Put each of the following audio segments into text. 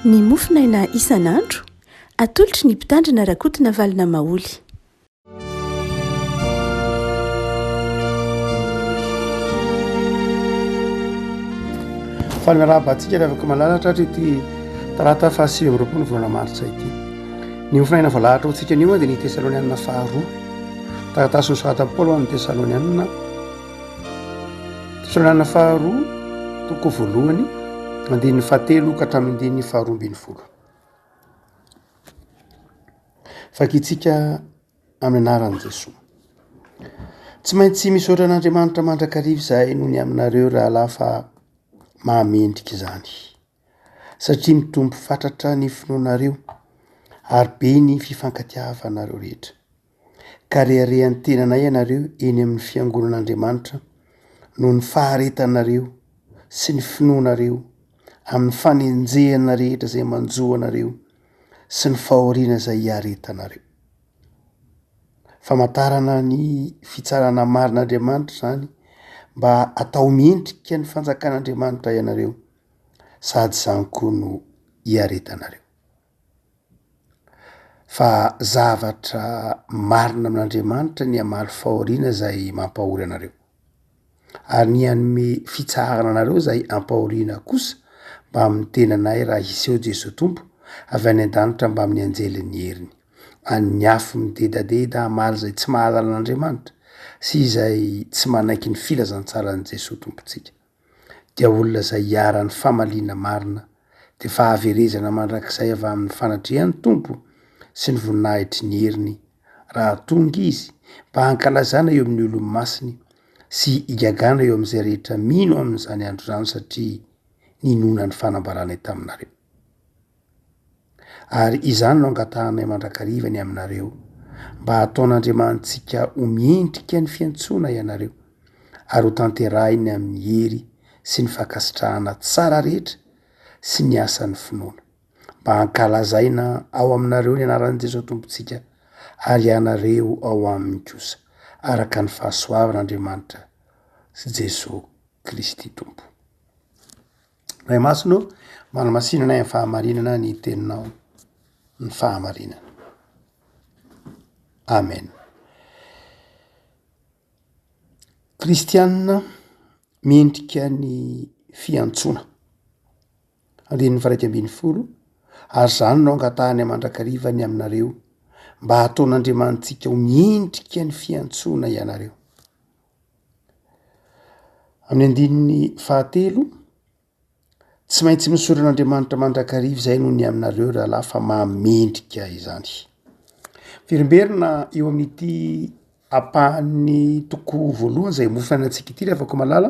Ny mofo naina isan'andro, atolotry ny Mpitandrina Rakotonavalona Maholy. Fanarahabantsika ry afaka malalatra ary ity talata faha sivy amby roapolo volana martsa ity. Ny mofinaina voalahatra hoantsika anio dia ny Tesalonianina faharoa. Taratasy nosoratan'i Paoly ho an'ny Tesalonianina. Fitondrana faharoa toko voalohany andininy fahatelo ka hatramin'ny andininy faharoa ambin'ny folo. Vakintsika amin'ny anaran'i Jesoa. Tsy maintsy misaotra an'Andriamanitra mandrakariva izahay noho ny aminareo rahalahy fa mahamendrika izany satria mitombo fatratra ny finoanareo ary be ny fifankatiavanareo rehetra. ka reharehan'ny tenanay ianareo eny amin'ny fiangonan'Andriamanitra noho ny faharetanareo sy ny finoanareo amin'ny fanenjehana rehetra izay manjo anareo sy ny fahoriana izay iaretanareo. Famantarana ny fitsarana marin'Andriamanitra izany mba atao mendrika ny fanjakan'Andriamanitra ianareo sady izany koa no iaretanareo. Fa zavatra marina amin'Andriamanitra ny hamaly fahoriana izay mampahory anareo, ary ny hanome fitsaharana anareo izay ampahoriana kosa mbamin'ny tenanay raha hiseho Jesoa Tompo avy any an-danitra mbamin'ny anjelin'ny heriny, an'ny afo midedadeda hamaly izay tsy mahalala an'Andriamanitra sy izay tsy manaiky ny filazantsaran'i Jesoa Tompontsika. dia olona izay iharan'ny famaliana marina, dia fahaverezana mandrakizay avy amin'ny fanatrehan'ny Tompo sy ny voninahitry ny heriny, raha tonga Izy mba hankalazana eo amin'ny olony masiny sy higagana eo amin'izay rehetra mino amin'izany andro izany satria ninona ny fanambaranay taminareo. Ary izany no angatahanay mandrakariva ny aminareo, mba hataon'Andriamanitsika ho miendrika ny fiantsoana ianareo, ary ho tanterahiny amin'ny hery sy ny fankasitrahana tsara rehetra sy ny asan'ny finoana, mba hankalazaina ao aminareo ny anaran'i Jesoa Tompontsika, ary ianareo ao aminy kosa, araka ny fahasoavan'Andriamanitra sy Jesoa Kristy Tompo. Ray Masina ô, manamasinanay amin'ny fahamarinana ny Teninao, ny fahamarinana. Amen. Kristianina mendrika ny fiantsoana. Andininy faha iraika ambin'ny folo, ary zany no angatahany mandrakariva ny aminareo, mba hataon'Andriamanitsika ho mendrika ny fiantsoana ianareo. Amin'ny andininy fahatelo, Tsy maintsy misorona an'Andriamanitra mandrakariva izay noho ny aminareo rahalahy fa mahamendrika izany. Miverimberina eo amin'ity ampahan'ny toko voalohany izay homofana antsika ity ry havako malala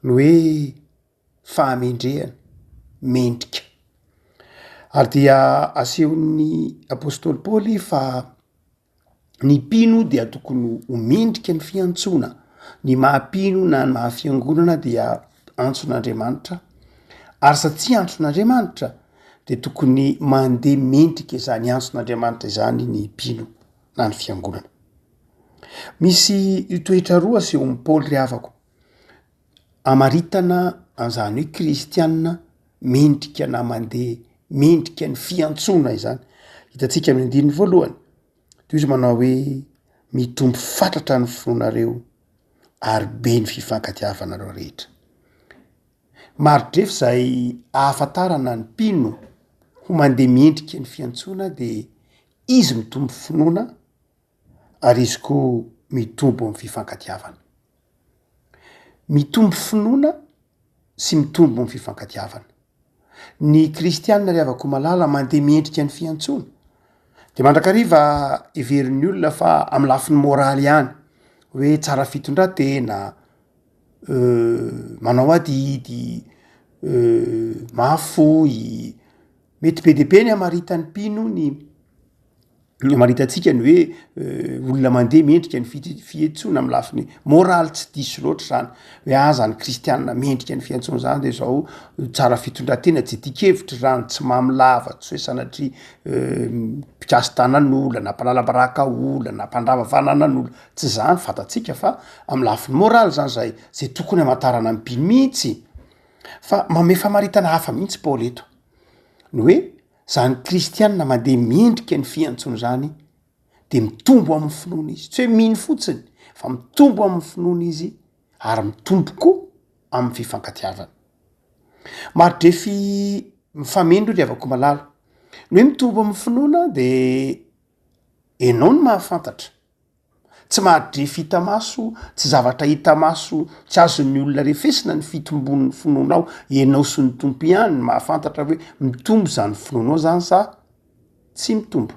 ny hoe fahamendrehana, mendrika. Ary dia asehon'ny apostoly Paoly fa Ny mpino dia tokony ho mendrika ny fiantsoana. Ny maha mpino na ny maha fiangonana dia antson'Andriamanitra. Ary satsia antson'Andriamanitra dia tokony mandeha mendrika izany antson'Andriamanitra izany ny mpino na ny fiangonana. Misy toetra roa asehon'i Paoly ry havako. Amaritana an'izany hoe kristiana mendrika na mandeha mendrika ny fiantsoana izany, hitantsika amin'ny andininy voalohany, toy izy manao hoe mitombo fatratra ny fonareo ary be ny fifankatiavanareo rehetra. Maridrefy izay ahafantarana ny mpino ho mandeha mendrika ny fiantsoana dia izy mitombo finoana. ary izy koa mitombo amin'ny fifankatiavana. Mitombo finoana sy mitombo ny fifankatiavana. Ny kristianina ry havako malala mandeha miendrika ny fiantsoana. Dia mandrakariva heverin'ny olona fa amin'ny lafiny moraly ihany hoe tsara fitondran-tena, manao adidy, mahafoy, mety be dia be ny hamaritany mpino ny. Amaritantsika ny hoe olona mandeha mendrika ny fihetsoana amin'ny lafiny moraly tsy diso loatra izany hoe aza ny kristianina mendrika ny fiantsoana izany dia izao tsara fitondran-tena tsy dian-kevitra izany tsy mamy lava tsy hoe sanatria mpikasy tanan'olona na mpanalabaraka olona na mpandrava fananan'olona tsy izany fantatsika fa amin'ny lafiny moraly izany izay izay tokony hamantarana ny mpino mihitsy fa manome famaritana hafa mihitsy Paoly eto ny hoe Izany kristiana mandeha mendrika ny fiantsony izany dia mitombo amin'ny finoana izy, tsy hoe mino fotsiny fa mitombo amin'ny finoana izy ary mitombo koa amin'ny fifankatiavana. Maridrefy mifameno ry havako malala, ny hoe mitombo amin'ny finoana dia ianao no mahafantatra Tsy mahadrefy hita maso, tsy zavatra hita maso, tsy azon'ny olona refesina ny fitombon'ny finoanao, ianao sy ny Tompo ihany no mahafantatra hoe mitombo izany finoanao izany sa tsy mitombo.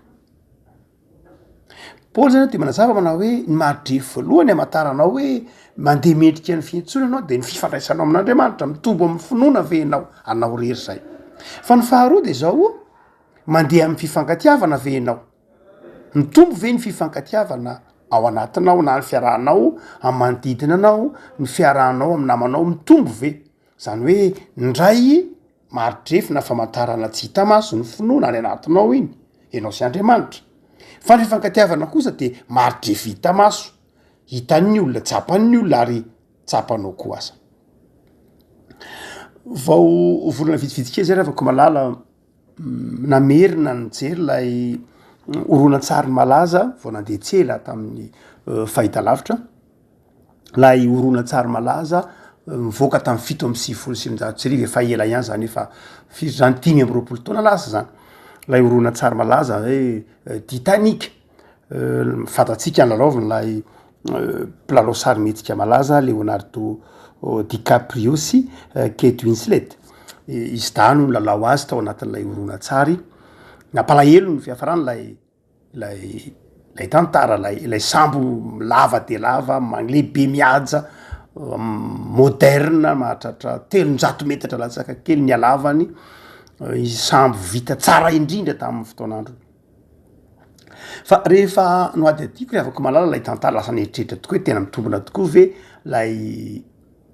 Paoly izany dia manazava manao hoe ny mahadrefy voalohany hamantaranao hoe mandeha mendrika ny fiantsoana ianao dia ny fifandraisanao amin'Andriamanitra, mitombo amin'ny finoana ve ianao anao irery izay? Fa ny faharoa dia izao, mandeha amin'ny fifankatiavana ve ianao? Mitombo ve ny fifankatiavana ao anatinao na ny fiarahanao amin'ny manodidina anao, ny fiarahanao amin'ny namanao? Mitombo ve? Zany hoe ndray mari-drefy na famantarana tsy hita maso ny finoana any anatinao iny, enao sy Andriamanitra. Fa ny fifankatiavana kosa de mari-drefy hita maso, hitan'ny olona, tsapan'ny olona ary tsapanao koa aza. Vao volana vitsivitsy kely zay raha vao ko malala, namerina nijery ilay horonantsary malaza vao nandeha tsy ela tamin'ny eh, fahitalavitra, ilay horonantsary malaza eh, mivoaka tamin'ny fito amby sivifolo sy sivinjato sy arivo efa ela ihany zany efa firy zany dimy amby roapolo taona lasa zany ilay horonantsary malaza hoe eh, Titanic Fanta-tsika ny lalaovin'ilay mpilalao sarimihetsika malaza Leonardo DiCaprio sy Kate Winslet. Izy dahy no nilalao azy tao anatin'ilay horonantsary. Nampalahelo ny fiafarany ilay ilay ilay tantara, ilay ilay sambo lava dia lava, lehibe mihaja, moderna, mahatratra telonjato metatra latsaka kely ny halavany, sambo vita tsara indrindra tamin'ny fotoan'androny. Fa rehefa nohadihadiako ry havako malala ilay tantara lasa nieritreritra tokoa hoe tena mitombina tokoa ve ilay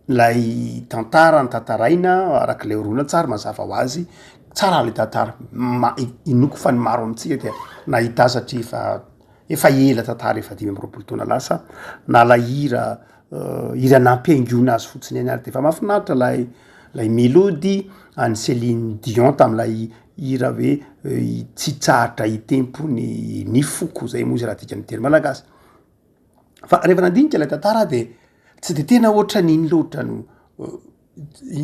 ilay tantara notantaraina araka ilay horonantsary mazava ho azy tsara ilay tantara ma- inoako fa ny maro amintsika dia nahita azy satria efa efa ela tantara efa dimy amby roapolo taona lasa na ilay hira hira nampihaingoana azy fotsiny ihany ary dia efa mahafinaritra ilay ilay melody an'i Celine Dion tamin'ilay Hira hoe tsy tsahatra hitempo ny ny foko zay moa izy raha dikan'ny teny malagasy. Fa rehefa nandinika ilay tantara aho de tsy de tena ohatran'ny iny loatra no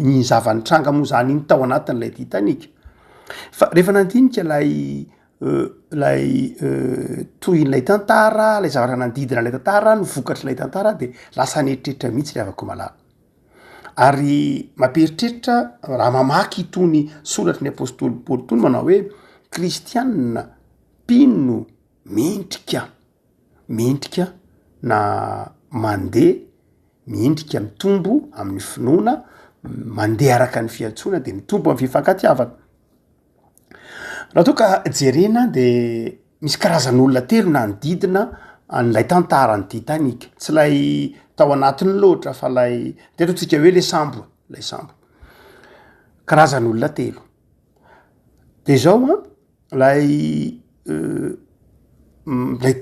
ny zava-nitranga moa zany iny tao anatin'ilay Titanic. Fa rehefa nandinika ilay ilay tohin'ilay tantara, ilay zavatra nanodidina ilay tantara, ny vokatr'ilay tantara aho de lasa nieritreritra mihitsy ry havako malala. ary mampieritreritra raha mamaky itony soratry ny apostoly paoly itony manao hoe kristianina mpino mendrika mendrika na mandeha mendrika mitombo amin'ny finoana mandeha araka ny fiantsoana de mitombo amin'ny fifankatiavana Raha toa ka jerena dia misy karazan'olona telo nanodidina an'ilay tantara ny Titanic, tsy ilay tao anatiny loatra fa ilay teto antsika hoe le sambo ilay sambo, karazan'olona telo de zao an, lay lay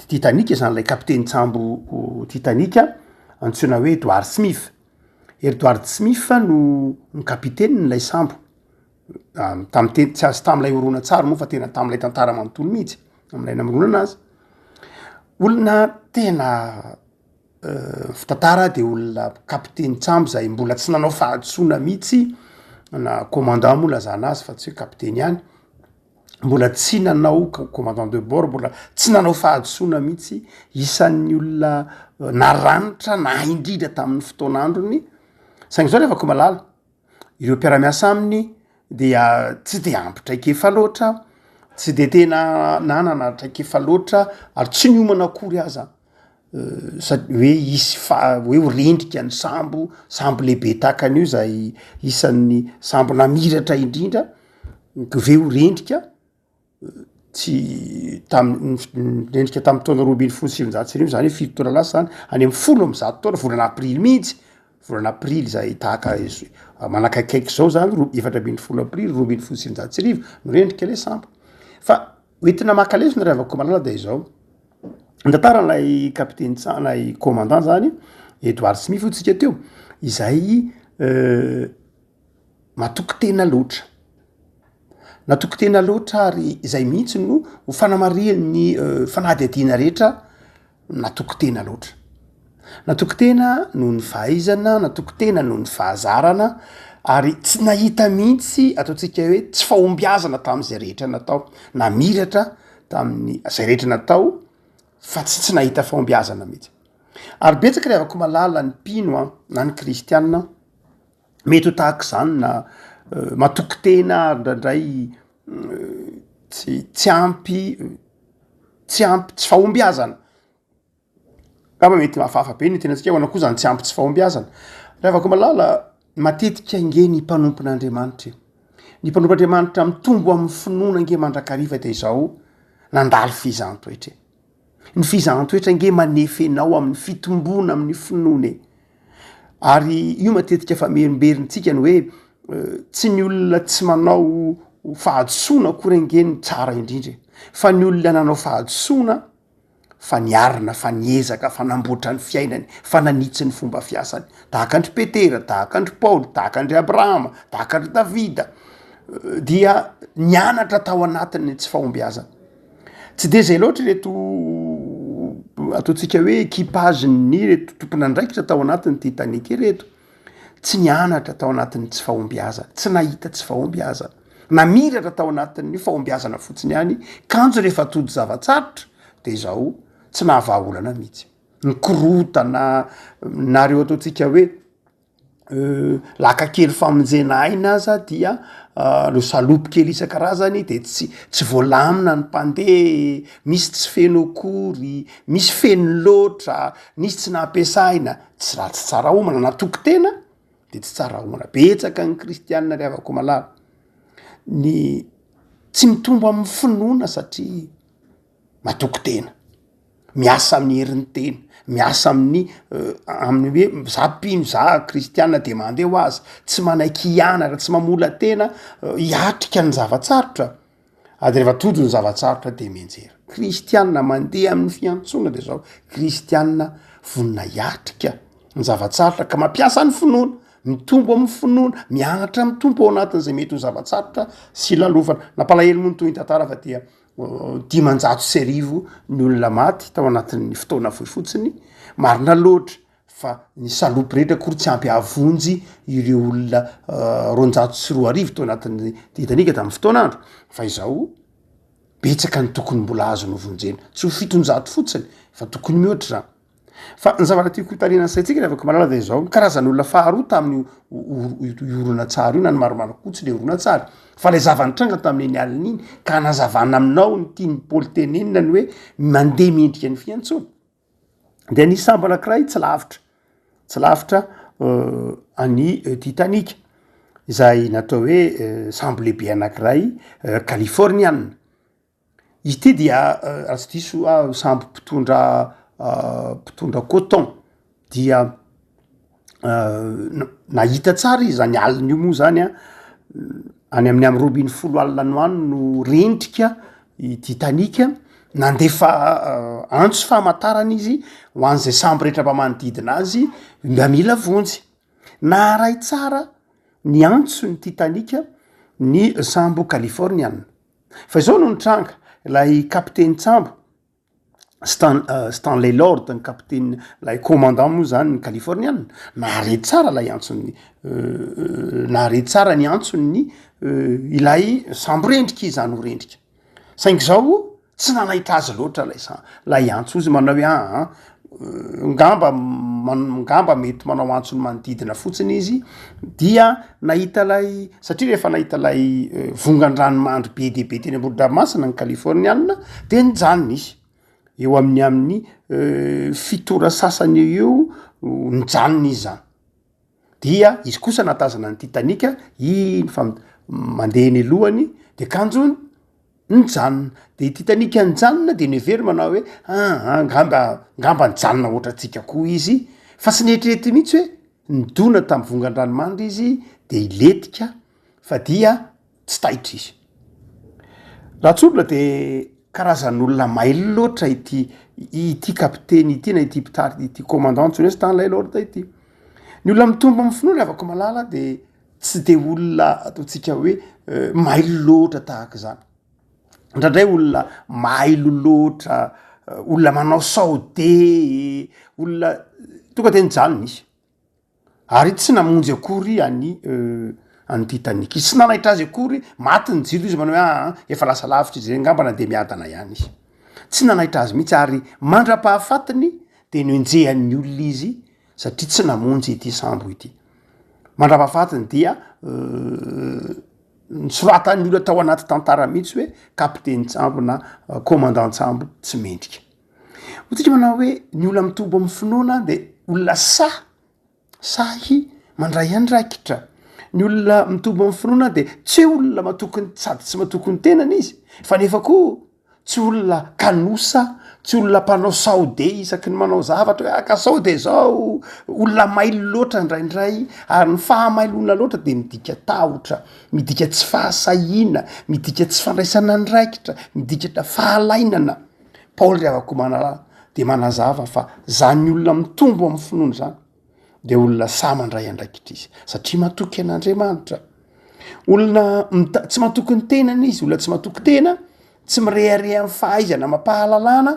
Titanic zany ilay kapitenin-tsambo Titanic antsoina hoe Edward Smith, Edward Smith no kapitenin'ilay sambo. tamin'ny teny tsy azy tamin'ilay horonantsary moa fa tena tamin'ilay tantara manontolo mihitsy amin'ilay namoronana azy olona tena euh, fitantara de olona kapiteny tsambo zay mbola tsy nanao fahadisoana mihitsy na commandant moa lazana azy fa tsy hoe kapiteny ihany mbola tsy nanao commandant de bord mbola tsy nanao fahadisoana mihitsy isan'ny olona euh, naranitra na indrindra tamin'ny fotoan'androny saingy zao rehefa ko malala ireo mpiara-miasa aminy dia tsy de ampy traikefa loatra tsy de tena nanana traikefa loatra ary tsy niomana akory aza sady hoe hisy faha- hoe ho rendrika ny sambo sambo lehibe tahaka an'io izay isan'ny sambo namiratra indrindra k've ho rendrika tsy tamin'nendrika tamin'ny taona roa ambin'ny folo sy sivinjato sy arivo zany hoe fito taona lasa zany any amin'ny folo amin'ny zato taona volana aprily mihitsy volana aprily zay tahaka izy manakaikaiky izao zany roa efatra ambin'ny folo aprily roa ambin'ny folo sy sivinjato sy arivo no rendrika ilay sambo fa ho entina maka lesona ry havakoamalala dia izao ny tantaran'ilay kapiteny tsa- ilay commandant zany Edouard Smith hoy tsika teo izay Matoky tena loatra. Natoky tena loatra ary izay mihitsy no ho fanamarihan'ny eh, fanadihadiana rehetra natoky tena loatra. Natoky tena noho ny fahaizana, natoky tena noho ny fahazarana, ary tsy nahita mihitsy ataontsika hoe tsy fahombiazana tamin'izay rehetra natao, namiratra tamin'ny izay rehetra natao fa tsy tsy nahita fahombiazana mihitsy. Ary betsaka ry havako malala ny mpino an, na ny kristianina, Mety ho tahaka izany na matoky tena ary indraindray tsy tsy ampy tsy ampy tsy fahombiazana. Angamba mety hafahafa be ny tenantsika ahoana koa izany tsy ampy tsy fahombiazana. Ry havako malala, matetika ange ny mpanompon'Andriamanitra e! Ny mpanompon'Andriamanitra mitombo amin'ny finoana ange mandrakariva dia izao nandalo fehizan-toetra e! Ny fizahan-toetra ange manefy anao amin'ny fitomboana amin'ny finoana e. Ary io matetika fa mierimberinttsika ny hoe tsy ny olona tsy manao fahadisoana akory ange ny tsara indrindra e. Fa ny olona nanao fahadisoana fa niarina, fa niezaka, fa namboatra ny fiainany, fa nanitsy ny fomba fiasany. Tahaka an-dry Petera, tahaka an-dry Paoly, tahaka an-dry Abrahama, tahaka an-dry Davida dia nianatra tao anatin'ny tsy fahombiazana. Tsy dia izay loatra ireto ataontsika hoe equipage-n'ny ireto tompon'andraikitra tao anatin'ny Titanic ireto. Tsy nianatra tao anatin'ny tsy fahombiazana, tsy nahita tsy fahombiazana. Namiratra tao anatin'ny fahombiazana fotsiny ihany, kanjo rehefa tojo zava-tsarotra dia izao tsy nahavaha olana mihitsy. Ny korontana na ireo ataontsika hoe laka kely famonjena aina aza dia reo salopy kely isan-karazany de tsy tsy voalamina ny mpandeha, misy tsy feno akory, misy feno loatra, misy tsy nampiasaina, tsy raha tsy tsara homana, na toky tena de tsy tsara homana, betsaka ny kristianina ry havako malala, ny tsy mitombo amin'ny finoana satria. matoky tena, miasa amin'ny herin'ny tena, miasa amin'ny amin'ny hoe za mpino za kristiana de mandeha ho azy, tsy manaiky hianatra, tsy mamola-tena hiatrika ny zava-tsarotra, ary rehefa tojo ny zava-tsarotra de mianjera. Kristiana mandeha amin'ny fiantsoana de zao, kristiana vonona hiatrika ny zava-tsarotra ka mampiasa ny finoana, mitombo amin'ny finoana, mianatra amin'ny Tompo ao anatin'izay mety ho zava-tsarotra sy lalofana. Nampalahelo moa ny tohiny tantara fa dia. dimanjato sy arivo ny olona maty tao anatin'ny fotoana fohy fotsiny, marina loatra fa ny salopy rehetra akory tsy ampy hahavonjy ireo olona roanjato sy roa arivo tao anatin'ny Titanica tamin'ny fotoan'andro fa izao betsaka ny tokony mbola azony hovonjena, tsy ho fitonjato fotsiny fa tokony mihoatra izany. Fa ny zavatra tiako hotarihina ny saintsika ry avako malala dia izao, ny karazan'olona faharoa tamin'io horonantsary io na ny maromaro koa tsy ilay horonantsary fa ilay zava-nitranga tamin'iny alina iny ka hanazavana aminao ny tian'i Paoly tenenina ny hoe mandeha miendrika ny fiantsoana dia nisy sambo anankiray tsy lavitra tsy lavitra euh, an'i euh, Titanic izay natao hoe euh, sambo lehibe anankiray euh, Californiana Ity dia raha tsy diso aho sambo mpitondra mpitondra coton dia nahita tsara izy zany alin'io moa zany a any amin'ny amy roa ambin'ny folo alina no any no rendrika i Titanic nandefa antso famantarana izy ho an'izay sambo rehetra mba manodidina azy mba mila vonjy naharay tsara ny antso ny Titanic ny sambo Californiana. Fa izao no nitranga, ilay kapiteny tsambo Stan, uh, Stanley Lord ny kapiteny ilay commandant moa zany ny Californiana nahare tsara ilay antson'ny uh, nahare tsara ny antson'ny uh, ilay samborendrika izy zany ho rendrika saingy zao tsy nanahitra azy loatra lay sa lay antso izy manao hoe aa ah, ah, ngamba ngamba mety manao antso ny manodidina fotsiny izy dia nahita ilay satria rehefa nahita ilay eh, vongan-dranomandry be dia be teny ambohidramasina ny kalifôrnianina dia nijanona izy eo amin'ny amin'ny eh, fitora sasany eo eo nijanona izy zany dia izy kosa nahatazana ny Titanic iny fa mandeha eny alohany de kanjo nijanona de i Titanic nijanona de niheveriny manao hoe aa angamba angamba nijanona ohatrantsika koa izy fa tsy nieritreritra mihitsy hoe nidona tamin'ny vongan-dranomandry izy de hilentika fa dia tsy taitra izy. Raha tsorina de karazan'olona mailo loatra ity ity kapiteny ity na ity mpitari- ity commandant antsoina hoe Stanley Lord ity. Ny olona mitombo amin'ny finoana avako malala de tsy de olona ataontsika hoe mailo loatra tahaka izany. Indraindray olona mailo loatra, olona manao sao de, olona tonga de nijanona izy. Ary tsy namonjy akory an'i e an'i Titanic izy. Tsy nanaitra azy akory, maty ny jiro izy manao hoe aa efa lasa lavitra izy, angamba na dia miadana ihany izy. Tsy nanaitra azy mihitsy ary mandra-pahafatiny dia nenjehan'ny olona izy satria tsy namonjy ity sambo ity. Mandra-pahafatiny dia nosoratan'ny olona tao anaty tantara mihitsy hoe kapitenin-tsambo na komandan-tsambo tsy mendrika. Hotsika manao hoe ny olona mitombo amin'ny finoana de olona sahy sahy mandray andraikitra, ny olona mitombo amin'ny finoana de tsy hoe olona matoky ny sady tsy matoky ny tenany izy fa nefa koa tsy olona kanosa, tsy olona mpanao sao de isaky ny manao zavatra hoe aka sao de zao, olona mailo loatra indraindray ary ny faha mailoana loatra de midika tahotra, midika tsy fahasahiana, midika tsy fandraisana andraikitra, midika fahalainana. Paoly ry havako manalala dia manazava fa zany olona mitombo amin'ny finoana zany dia olona sahy mandray andraikitra izy satria matoky an'Andriamanitra olona mita- tsy matoky ny tenany izy olona tsy matoky tena tsy mirehareha amin'ny fahaizana mampahalalana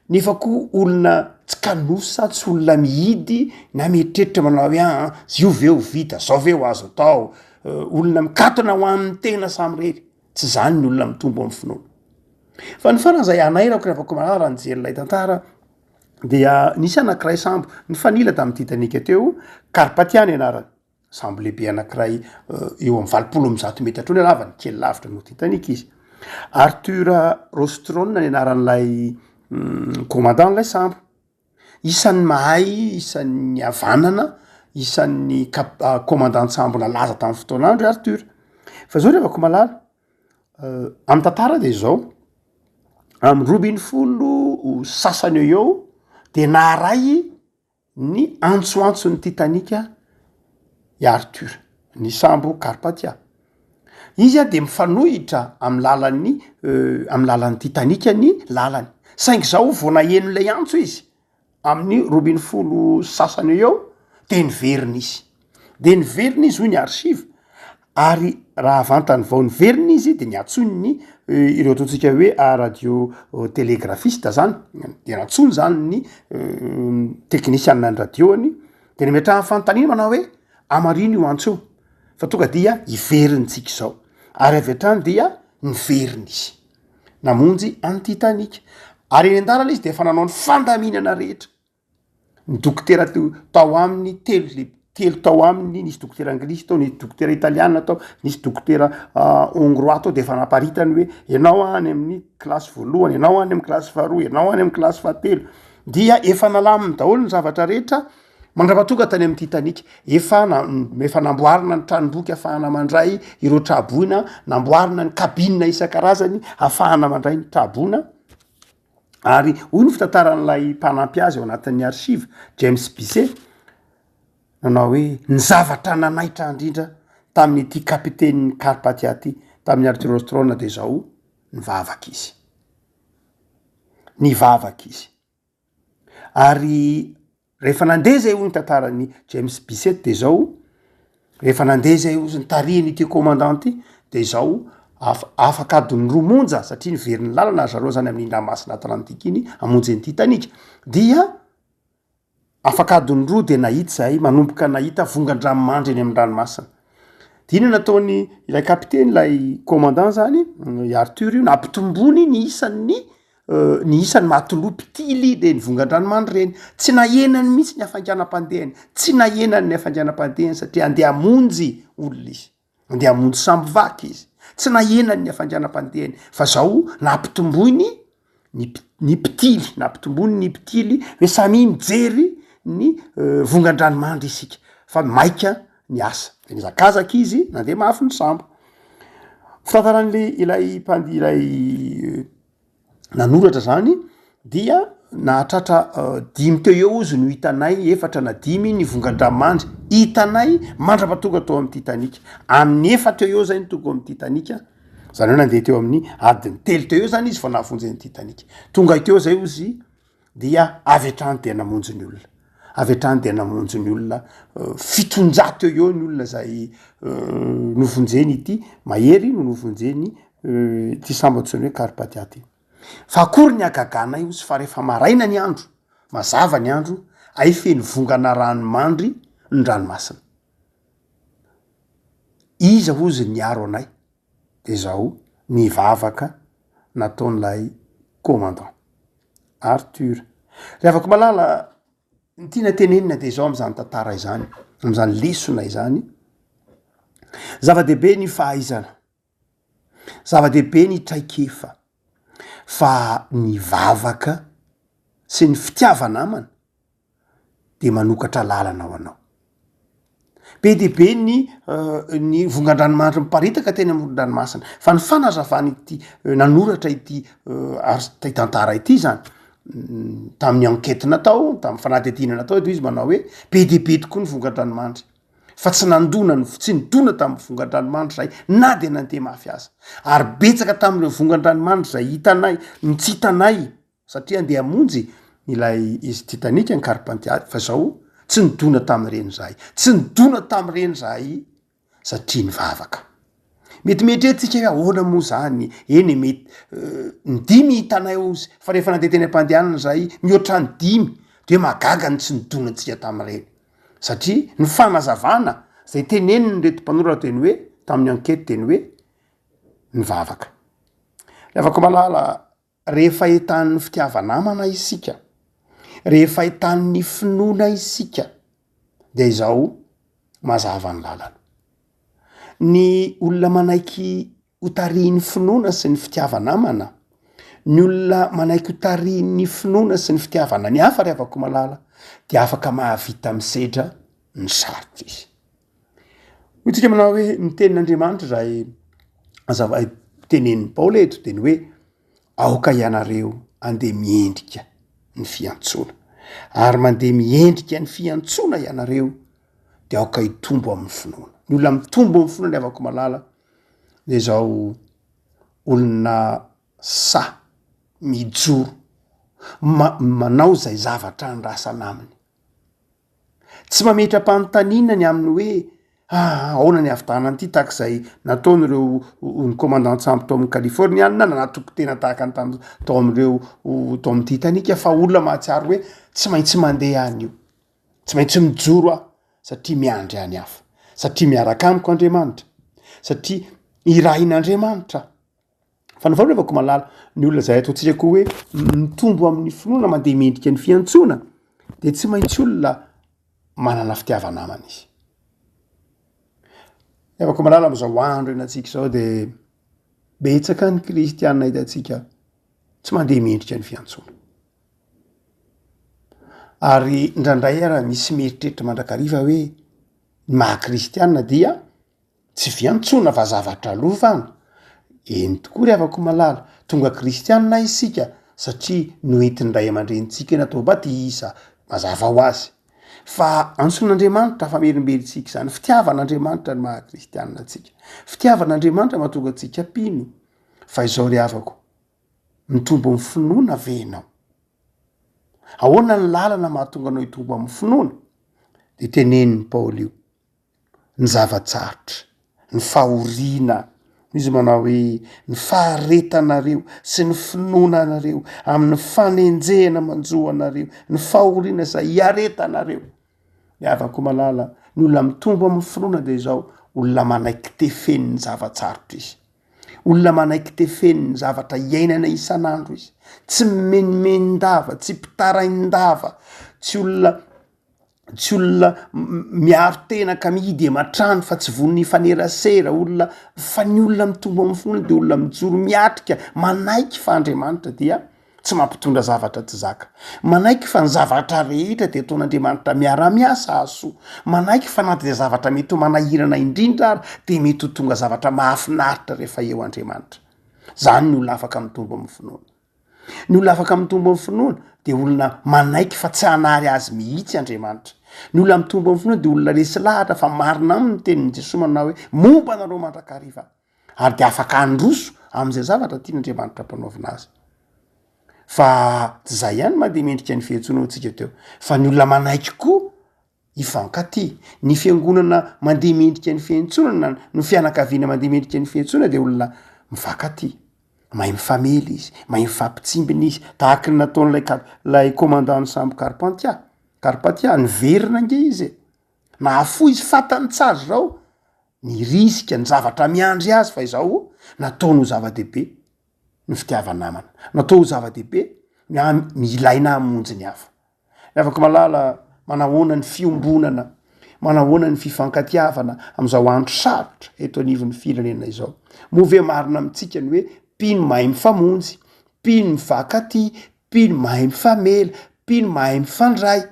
nefa koa olona tsy kanosa tsy olona mihidy na mieritreritra manao hoe aa zioveo vita zaoveo azo atao olona mikatona ho amin'ny tena samirery Tsy zany ny olona mitombo amin'ny finoana. Fa ny farany izay hanairako rehefa koa malalra nijery ilay tantara dia nisy anankiray sambo nifanila tamin'ny Titanic teo, Karpatia ny anarany. Sambo lehibe anankiray eh, eo amin'ny valopolo amin'ny zato metatra eo ny halavany, kely lavitra noho Titanic izy. Arthur Rostrone ny anaran'ilay mm, commandant ilay sambo. Isan'ny mahay, isan'ny havanana, isan'ny kap- kômandan-tsambo nalaza tamin'ny fotoana andro i Arthur. Fa zao ry havako malala, amin'ny tantara de zao, amin'ny roa ambin'ny folo sasany eo eo de naharay ny antsoantson'ny Titanic i Arthur, ny sambo Carpathia. Izy a de mifanohitra amin'ny lalan'ny amin'ny lalan'ny Titanic ny lalany saingy zao vao naheno lay antso izy amin'ny roa ambin'ny folo sy sasany eo eo de niverina izy, de niverina izy hoy ny archive ary raha vantany vao niverina izy de niantsoany ny ireo ataontsika hoe radio telegrafista zany de nantsoiny zany ny teknisiana ny radio-ny de nametrahany fanontaniana manao hoe amarino io antso io? fa tonga dia hiverintsika izao ary avy hatrany dia niverina izy namonjy any titanic ary eny an-dalana izy dia efa nanao ny fandaminana rehetra ny dokotera teo tao aminy telo le telo tao aminy nisy dokotera anglisy tao nisy dokotera italiana tao nisy dokotera hongroa ah, tao de efa naparitany hoe ianao any amin'ny kilasy voalohany ianao any amin'ny kilasy faharoa ianao any amin'ny kilasy fahatelo dia efa nalaminy daholo ny zavatra rehetra Mandrava tonga tany amin'ny Titanic. Efa na, efa namboarina ny tranomboky afahana mandray ireo tra-boina, namboarina ny cabine isan-karazany afahana mandray ny tra-boina, ary hoy ny fitantaran'ilay mpanampy azy ao anatin'ny archives, James Bisset, nanao hoe, ny zavatra nanaitra indrindra tamin'ity kapitenin'ny Carpathia ity, tamin'i Arthur Ostrown dia izao, nivavaka izy. Nivavaka izy. ary rehefa nandeha zay hoy ny tantaran'i James Bisset de zao, rehefa nandeha zay ozy nitarihin' ity commandant ty de zao afa- afaka adin'ny roa monja satria niveriny lalana ry zareo zany amin'iny ranomasina atlantika iny hamonjy an'ity tanika dia. Afaka adiny roa dia nahita izahay, manomboka nahita vongan-dranomandry eny amin'ny ranomasina. Dia inona no nataony ilay kapiteny, ilay commandant izany, i Arthur io, nampitomboiny ny isan'ny ny isan'ny matelot mpitily ireny vongan-dranomandry ireny. Tsy nahenany mihitsy ny hafainganam-pandehany, tsy nahenany ny hafainganam-pandehany satria handeha hamonjy olona izy. Andeha hamonjy sambo vaky izy. Tsy nahena ny hafainganam-pandehany fa zao nampitomboiny ny pi- ny mpitily, nampitomboiny ny mpitily hoe samia mijery ny vongan-dranomandry isika fa maika ny asa. De nihazakazaka izy nandeha mafy ny sambo. Fitantaran'le ilay mpand- ilay. nanoratra zany dia nahatratra dimy teo eo izy no hitanay efatra na dimy ny vongan-dramandry hitanay mandrapa tonga teo amin'ny Titanic amin'ny efatra teo eo zay ny tonga ao amin'ny Titanic zany hoe nandeha teo amin'ny adiny telo teo eo zany izy vao nahavonjy an'i Titanic tonga teo zay ozy dia avy hatrany dia namonjy ny olona, avy hatrany dia namonjy ny olona, fitonjato eo eo ny olona zay novonjeny ity mahery no novonjeny ity sambo antsoiny hoe karpatia ty, fa akory ny hagaganay ozy fa rehefa maraina ny andro, mazava ny andro ay feno vongana rano mandry ny ranomasina, iza ozy niaro anay? de zao ny vavaka nataon'ilay commandant Arthur. Ry havako malala, ny tiana tenenina de zao amin'izany tantara izany, amin'izany lesona izany, zava-dehibe ny fahaizana, zava-dehibe ny traikefa fa ny vavaka sy ny fitiava-namana dia manokatra lalana ho anao. Be dia be ny ny vongan-dranomanitra miparitaka teny amoron-dranomasina fa ny fanazavan'ity nanoratra ity art- ity tantara ity zany tamin'ny enquete natao tamin'ny fanadihadiana natao eto izy manao hoe be dia be tokoa ny vongan-dranomanitra fa tsy nandona ny tsy nidona tamin'ny vongan-dranomanitra zahay na dia nandeha mafy aza ary betsaka tamin'ireo vongan-dranomanitra zay hitanay no tsy hitanay Satria andeha hamonjy ilay izy Titanic ny Carpentier fa zao tsy nidona tamin'ireny zahay. Tsy nidona tamin'ireny zahay satria nivavaka. Mety mieritreritra isika hoe ahoana moa zany, eny e mety ny dimy hitanay ozy fa rehefa nandeha teny am-pandehanana zahay mihoatra ny dimy de mahagaga ny tsy nidona antsika tamin'ireny satria ny fanazavana zay tenen'reto mpanoratra teny hoe tamin'ny enquete teny hoe nivavaka. Ravako malala. Rehefa ahitanin'ny fitiava-namana isika, rehefa ahitanin'ny finoana isika, dia izao mazava ny lalana. Ny olona manaiky ho tarihin'ny finoana sy ny fitiava-namana, ny olona manaiky ho tarihin'ny finoana sy ny fitiavana ny hafa ry havako malala dia afaka mahavita misedra ny sarotra izy. Hoy tsika manao hoe ny tenin'Andriamanitra izay azavay tenenin'i Paoly eto dia ny hoe aoka ianareo andeha miendrika ny fiantsoana. Ary mandeha miendrika ny fiantsoana ianareo dia aoka hitombo amin'ny finoana. Ny olona mitombo amin'ny finoana avako malala dia izao olona sa mijoro manao izay zavatra andrasana aminy. Tsy mametra-panontaniana ny amin'ny hoe ahaona ny havitanana an'ity tahaka izay nataon'ireo ny komandan-tsambo tao amin'ny Kalifôrniana nanatoko tena tahaka ny tamin'ny tao amin'ireo tao amin'ny Titanika fa olona mahatsiaro hoe tsy maintsy mandeha any io, tsy maintsy mijoro aho satria miandry any hafa, satria miaraka amiko Andriamanitra, satria irahin'Andriamanitra aho. Fa ny fanaovako malala ny olona izay ataontsika koa hoe mitombo amin'ny finoana mandeha mendrika ny fiantsoana dia tsy maintsy olona manana fitiava-namana izy. Evako malala amin'izao andro hianantsika izao dia betsaka ny kristianina hitantsika tsy mandeha mendrika ny fiantsoana. Ary indraindray ara misy mieritreritra mandrakariva hoe ny maha kristianina dia Tsy fiantsoana fa zavatra alofana. Eny tokoa ry havako malala, tonga kristianina isika satria noentin'ny ray aman-drenintsika eny Antohabady isa mazava ho azy. Fa antson'Andriamanitra hafamerimberentsika izany, fitiavan'Andriamanitra no maha kristianina antsika, fitiavan'Andriamanitra mahatonga antsika mpino. Fa izao ry havako, mitombo amin'ny finoana ve ianao? Ahoana ny lalana mahatonga anao hitombo amin'ny finoana? De tenenin'i Paoly io. ny zava-tsarotra, ny fahoriana, noho izy manao hoe, ny faharetanareo sy ny finoana anareo amin'ny fanenjehana manjo anareo, ny fahoriana izay iaretanareo. Ny havako malala, ny olona mitombo amin'ny finoana dia izao, olona manaiky tefeny ny zava-tsarotra izy, olona manaiky tefeny ny zavatra iainana isan'andro izy, tsy mimenomenon-dava, tsy mpitarain-dava, tsy olona. tsy olona miaro tena ka mihidy ematrano fa tsy vonona hifanerasera olona fa ny olona mitombo amin'ny fony dia olona mijoro miatrika manaiky fa andriamanitra dia tsy mampitondra zavatra tsy zaka manaiky fa ny zavatra rehetra dia ataon'andriamanitra miara-miasa asoa manaiky fa na dia zavatra mety ho manahirana indrindra ary dia mety ho tonga zavatra mahafinaritra rehefa eo andriamanitra zany ny olona afaka mitombo amin'ny finoana Ny olona afaka mitombo amin'ny finoana dia olona manaiky fa tsy hanary azy mihitsy Andriamanitra. Ny olona mitombo amin'ny finoana dia olona resy lahatra fa marina aminy ny tenin'i Jesoa manao hoe, Momba anareo mandrakariva. Ary dia afaka handroso amin'izay zavatra tian'Andriamanitra hampanaovina azy. Fa tsy izay ihany mantsy dia mendrika ny fiantsoana ho antsika teo fa ny olona manaiky koa Hifankatia. Ny fiangonana mandeha mendrika ny fiantsoana na ny fianakaviana mandeha mendrika ny fiantsoana dia olona mifankatia. Mahay mifamely izy, mahay mifampitsimbina izy, tahaka ny nataon'ilay kar- ilay commandant-n'ny sambo Karpantia, Karpatia, niverina ange izy e! Nahafoy izy, fantany tsara izao ny risika, ny zavatra miandry azy fa izao nataony ho zava-dehibe ny fitiava-namana. Natao ho zava-dehibe ny an- ny ilaina hamonjy ny hafa. Ny havako malala manahoana ny fiombonana, manahoana ny fifankatiavana amin'izao andro sarotra eto anivon'ny firenena izao. Moa ve marina amintsika ny hoe mpino mahay mifamonjy, mpino mifankatia, mpino mahay mifamela, mpino mahay mifandray?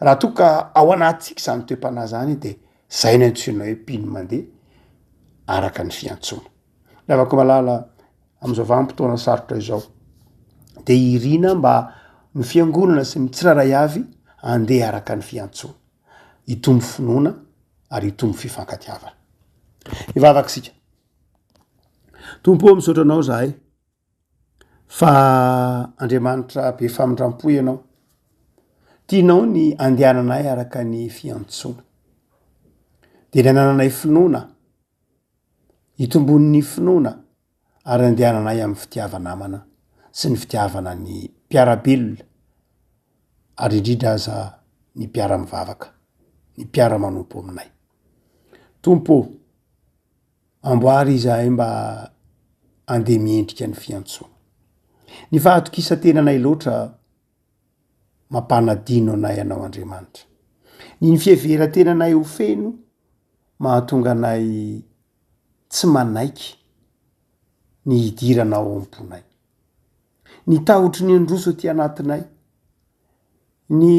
Raha toa ka ao anatintsika izany toe-panahy izany dia izay no antsoina hoe mpino mandeha araka ny fiantsoana. Lavako malala amin'izao vanim-potoana sarotra izao. Dia irina mba ny fiangonana sy ny tsirairay avy andeha araka ny fiantsoana. Hitombo finoana ary hitombo fifankatiavana. Hivavaka isika. Tompo misaotra anao zahay fa Andriamanitra be famindram-po ianao. Tianao ny andehananay araka ny fiantsoana. Dia ny anananay finoana. Hitomboan' ny finoana ary andehananay amin' ny fitiava-namana sy ny fitiavana ny mpiara-belona ary indrindra aza ny mpiara-mivavaka, ny mpiara-manompo aminay. Tompo ô, amboary izahay mba handeha miendrika ny fiantsoana. Ny fahatokisan-tenanay loatra. mampanadino anay Ianao Andriamanitra. Ny ny fiheveran-tenanay ho feno mahatonga anay tsy manaiky ny hidirana ao am-ponay. Ny tahotry ny handroso aty anatinay, ny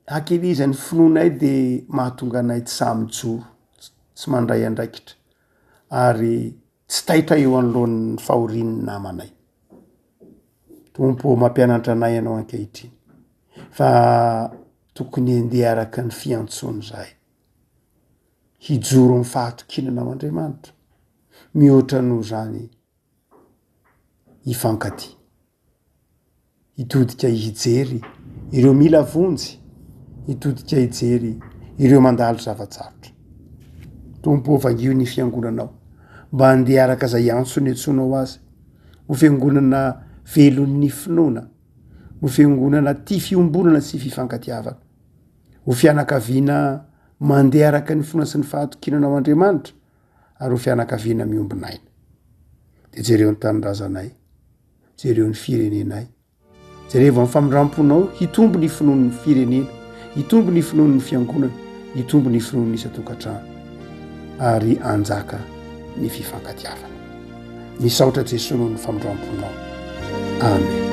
hakelezan'ny finoanay dia mahatonga anay tsy sahy mijoro, tsy mandray andraikitra ary. Tsy taitra eo anoloan'ny fahorian'ny namanay. Tompo ô, mampianatra anay Ianao ankehitriny fa tokony handeha araka ny fiantsoany izahay. Hijoro amin'ny fahatokiana Anao Andriamanitra. Mihoatra noho izany hifankatia. hitodika hijery ireo mila vonjy, hitodika hijery ireo mandalo zava-tsarotra. Tompo ô vangio ny fiangonanao mba handeha araka izay antso niantsoanao azy ho fiangonana velon'ny finoana, ho fiangonana tia fiombonana sy fifankatiavana, ho fianakaviana mandeha araka ny finoana sy ny fahatokinanao Andriamanitra ary ho fianakaviana miombon'aina. Dia jereo ny tanindrazanay. jereo ny firenenay jerevo amin'ny famindram-ponao hitombo ny finoan'ny firenena hitombo ny finoan'ny fiangonana hitombo ny finoan'ny isan-tokantrano ary anjaka ny fifankatiavana misaotra jesoa noho ny famindram-ponao amen